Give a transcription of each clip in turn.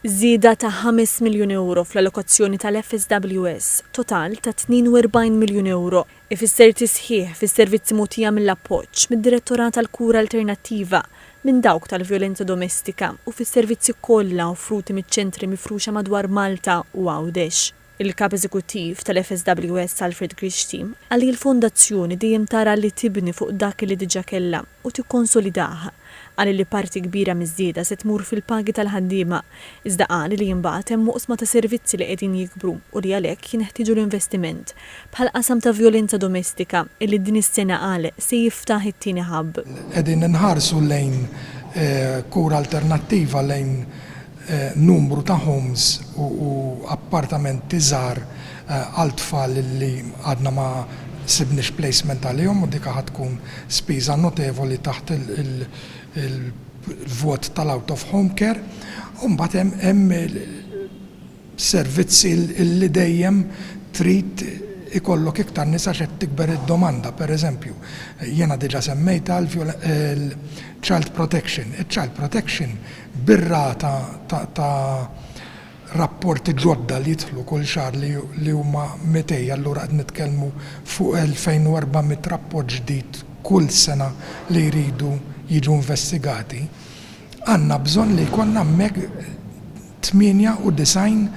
Żieda ta' ħames miljun ewro fl-allokazzjoni tal-FSWS, total ta' 42 miljun ewro, ifisser tisħiħ fis-servizzi mogħtija mill-appoġġ mid-Direttorat għall-Kura Alternattiva minn dawk tal-Vjolenza Domestika u fis-servizzi kollha offruti miċ-ċentri mifruxa madwar Malta u Għawdex. Il-Kap Eżekuttiv tal-FSWS Alfred Grixti qal li l-Fondazzjoni dejjem tara li tibni fuq dak li diġà kellha u tikkonsolidah. Qal li parti kbira miż-żieda se tmur fil-pagi tal-ħaddiema, iżda qal li imbagħad hemm oqsma ta' servizzi li qegħdin jikbru u li għalhekk jinħtieġu l-investiment, bħall-qasam ta' vjolenza domestika illi din is-sena qal se jiftaħ it-tieni hub. Qegħdin inħarsu lejn kura alternattiva lejn numru ta' homes u appartamenti żgħar għal tfal li għadna ma sibniex placement għalihom u dik ħa tkun spiża notevoli taħt il-vot tal-out of home care. U mbagħad hemm servizzi li dejjem trid ikollok iktar nies għax qed tikber id-domanda. Per eżempju, jiena diġa semmejtha l-child protection. Iċ-child protection bir-rata ta' rapporti ġodda li jidħlu kull xahar li huma mitej, allura qed nitkellmu fuq 2,400 rapport ġdid kull sena li jridu jiġu investigati, għandna bżonn li jkollna hemmhekk 98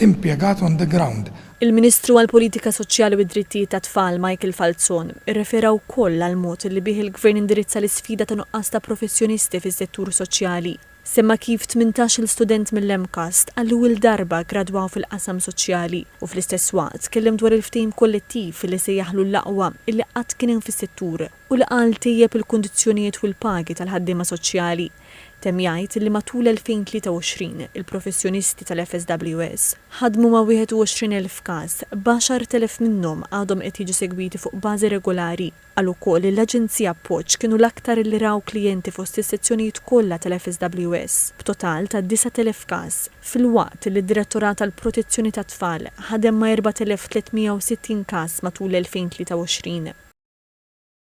impjegat on the ground. Il-Ministru għall-Politika Soċjali u d-Drittijiet tat-Tfal, Michael Falzon, irrefera wkoll għall-mod li bih il-Gvern indirizza l-isfida ta' nuqqas ta' professjonisti fis-settur soċjali. Semma kif tmintax-il student mill-MCAST għall-ewwel darba ggradwaw fil-qasam soċjali u fl-istess waqt tkellem dwar il-ftehim kollettiv li sejjaħlu l-aqwa li qatt kien hemm fis-settur u li qal tejjeb il-kundizzjonijiet u l-pagi tal-ħaddiema soċjali. Temm jgħid li matul 2023, il-professjonisti tal-FSWS ħadmu ma' 21,000 każ, b'għaxartelef minnhom għadhom qed jiġu segwiti fuq bażi regolari. Qal ukoll li l-Aġenzija Appoġġ kienu l-aktar li raw klijenti fost is-sezzjonijiet kollha tal-FSWS, b'total ta' 9,000 każ, filwaqt li d-Direttorat għall-Protezzjoni tat-Tfal ħadem ma' 4,360 każ matul 2023.